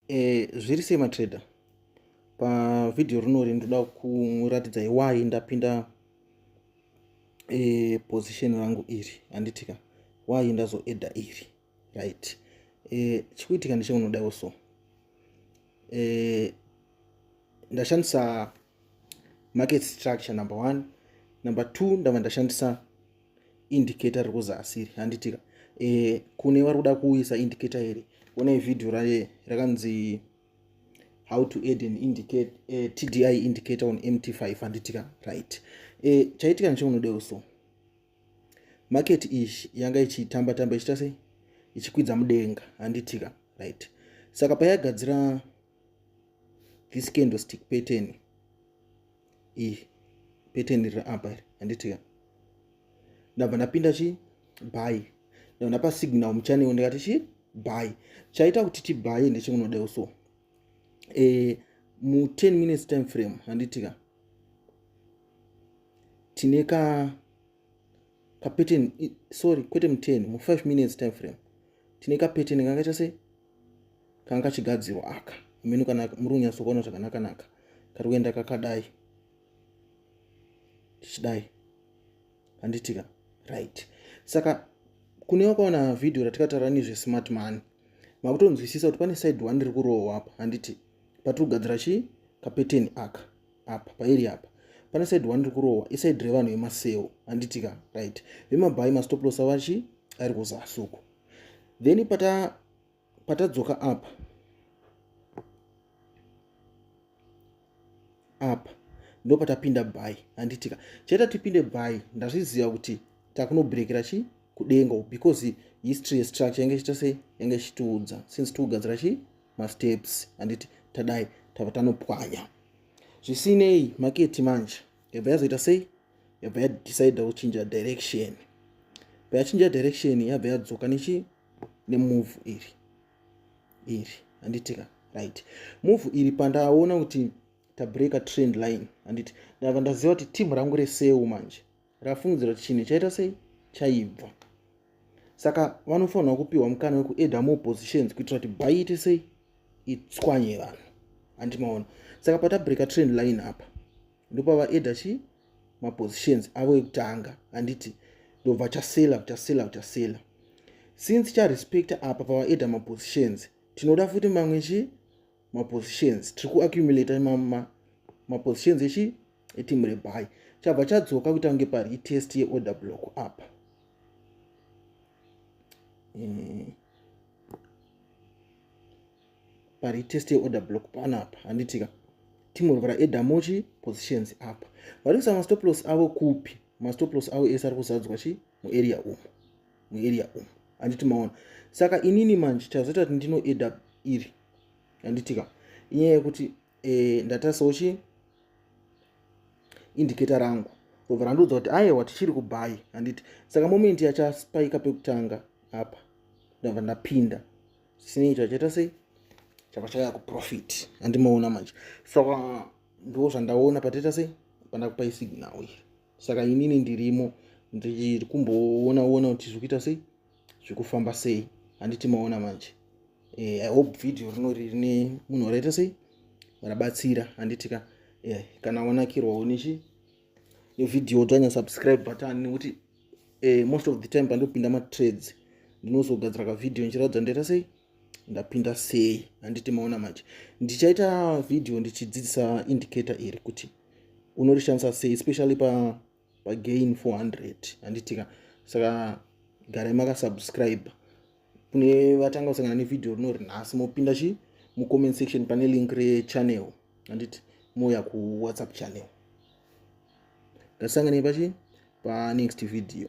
e, zviri sei matrader pavhidhiyo rinori ndoda kuratidzai why ndapinda e, position rangu iri handitika why ndazoedha iri right e, chikuitika ndecheunodawo so e, ndashandisa market structure number one number two ndava ndashandisa indicator riri kuzasi iri handitika e, eh, kune vari kuda kuuyisa indicator iri kune vhidhiyo raye rakanzi how to add an indicate uh, eh, tdi indicator on mt5 handitika right e, chaitika necheunodewo so market iyi yanga ichitamba tamba ichita sei ichikwidza mudenga handitika right saka payagadzira this candlestick pattern iyi peteni riri apa iri handitika ndabva ndapinda chii bhayi ndabva ndapa signal muchanewo ndikati chii bhayi chaita kuti tibhayi ndechekunodewo so e, mu 10 minutes time frame handitika tine ka kapeteni sorry kwete mu10 mu5 minutes time frame tine kapeteni kanga chase kanga kachigadzirwa aka minu kana muri kunyatsokuona zvakanakanaka kari kuenda kakadai tichidai handitika right saka kune wakaona vhidhiyo ratikataura nezvesmart money makutonzwisisa kuti pane side one riri kurohwa apa handiti patiri kugadzira chii kapeteni aka apa pairi apa pane side one rikurohwa iside revanhu vemaseo handitika right vemabhayi mastoplosa vachi ari kuzasuku then pata patadzoka apa apa ndo patapinda bhayi handitika chaita tipinde bhayi ndazviziva kuti takunobrekera chi kudenga because history yestructure yange chita se yange chitiudza since tiugadzira chi masteps handiti tadai tava tanopwanya zvisinei maketi manje yabva yazoita sei yabva yadecide kuchinja direction bva yachinja direction yabva yadzoka nechi nemove iri iri handitika right move iri pandaona kuti tabreaker trend line handiti ndava ndaziva kuti team rangu resewu manje rafungidzira kuti chinhu chaita sei chaibva saka vanofanirwa kupiwa mukana wekueda more positions kuitira kuti bhai ite sei itswanye vanhu handi maona saka patabreaker trend line apa ndopavaeda chi mapositions avo ekutanga handiti ndobva chasela chasela chasela since charespecta apa pavaeda mapositions tinoda futi mamwe chi mapositions tiri kuaccumulata mapositions echi etimu rebai chabva chadzoka kuita kunge pari itest yeorder block apa eh, pari itest yeorder block panapa handitika timu rova raedamochi positions apa vari kuisa mastoplos avo kupi mastoplos avo ese ari kuzadzwa chi muarea umu muarea umu handiti maona saka inini manje chazoita kuti ndinoeda iri handitika inyaya yekuti e, ndatarisawo chii indicator rangu robva randiudza kuti ayewa tichiri kubhayi handiti saka momenti yachaspayika pekutanga apa ndabva ndapinda sinei chachaita sei chava chaya kuprofit andimaona manje saka ndo zvandaona pataita sei pandakupa isignal iyi saka inini ndirimo ndiri kumboona ona kuti zviri kuita sei zvikufamba sei handiti maona manje eh, i hope video rinori rine munhu waraita sei warabatsira handiti ka eh, kana wanakirwawo nechi nevideo dzanya subscribe button nekuti eh, most of the time pandopinda matrades ndinozogadzira kavideo ndichiratidza ndoita sei ndapinda sei handiti maona manje ndichaita video ndichidzidzisa indicator iri kuti unorishandisa sei especially pa pagain 400 handitika saka garai makasubscribe kune vatanga kusangana nevideo rinori nhasi mopinda chi mucomment section pane link rechannel handiti mouya kuwhatsapp channel ngatisanganei pachi panext video